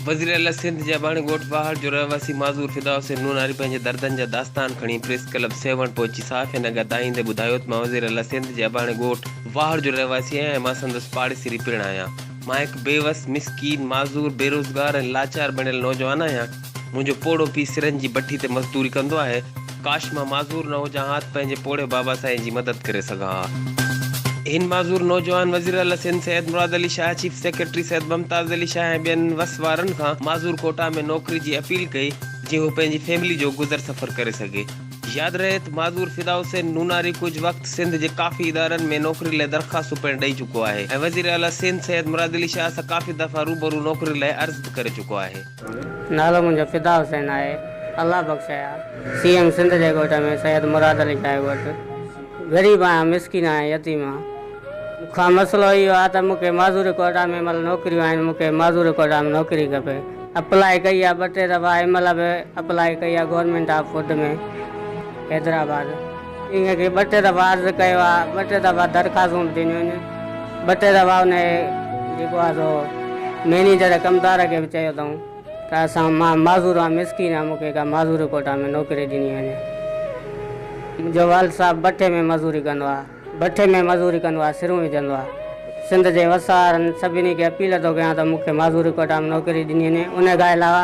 وزيراعليٰ سنڌ جي اباڻي ڳوٺ واهڙ جو رهواسي معذور فدا حسين نوناري پنهنجي دردن جا داستان کڻي پريس ڪلب سيوهڻ پهچي صحافين اڳيان دانهيندي ٻڌايو ته مان وزيراعليٰ سنڌ جي اباڻي ڳوٺ واهڙ جو رهواسي آهيان ۽ مان سندس پاڙيسري پڻ آهيان. مان هڪ بيوس، مسڪين، معذور، بيروزگار ۽ لاچار بڻيل نوجوان آهيان. منهنجو پوڙهو پيء سرن جي بٺي تي مزدوري ڪندو آهي. ڪاش مان معذور نه هجان ها ته پنهنجي پوڙهي بابا سائين جي مدد ڪري سگهان ها. هن معذور نوجوان وزيراعليٰ سنڌ سيد مراد علي شاهه، چيف سيڪريٽري سيد ممتاز علي شاهه ۽ ٻين وس وارن کان معذور ڪوٽا ۾ نوڪري جي اپيل ڪئي، جيئن هو پنهنجي فيملي جو گذر سفر ڪري سگهي. ياد رهي ته معذور فدا حسين نوناري ڪجهه وقت سنڌ جي ڪافي ادارن ۾ نوڪري لاء درخواستون پڻ ڏئي چڪو آهي ۽ وزيراعليٰ سنڌ سيد مراد علي شاهه سان ڪافي دفعا روبرو نوڪري لاء عرض به ڪري چڪو آهي. نالو منهنجو فدا حسين آهي الله بخشايا سي ايم سنڌ جي ڳوٺ ۾ سيد مراد علي شاهه وٽ غريب آهيان مسڪين آهيان يتيم آهيان مون کان مسئلو اهو آهي ته مون کي معذوري ڪوئٽا ۾ مل نوڪريون آهن مون کي معذوري ڪوئٽا ۾ نوڪري کپي اپلاء ڪئي آهي ٻه ٽي دفعا ايم ايل به اپلاء ڪئي آهي گورنمينٽ آف فوڊ ۾ حيدرآباد انهن کي ٻه ٽي دفعا عرض ڪيو آهي، ٻه ٽي دفعا درخواستون به ڏنيون آهن، ٻه ٽي دفعا ان جي جيڪو آهي سو مئنيجر ڪمدار کي به چيو اٿئون ته اسان مان معذور آهيان، مسڪين آهيان، مون کي ڪا معذوري ڪوٽا ۾ نوڪري ڏني وڃي. منهنجو والد صاحب بٺي ۾ مزوري ڪندو آهي، بٺي ۾ مزوري ڪندو آهي، سرون وجهندو آهي. سنڌ جي وسارن سڀني کي اپيل ٿو ڪيان ته مون کي معذوري ڪوٽا ۾ نوڪري ڏني وڃي، ان کان علاوه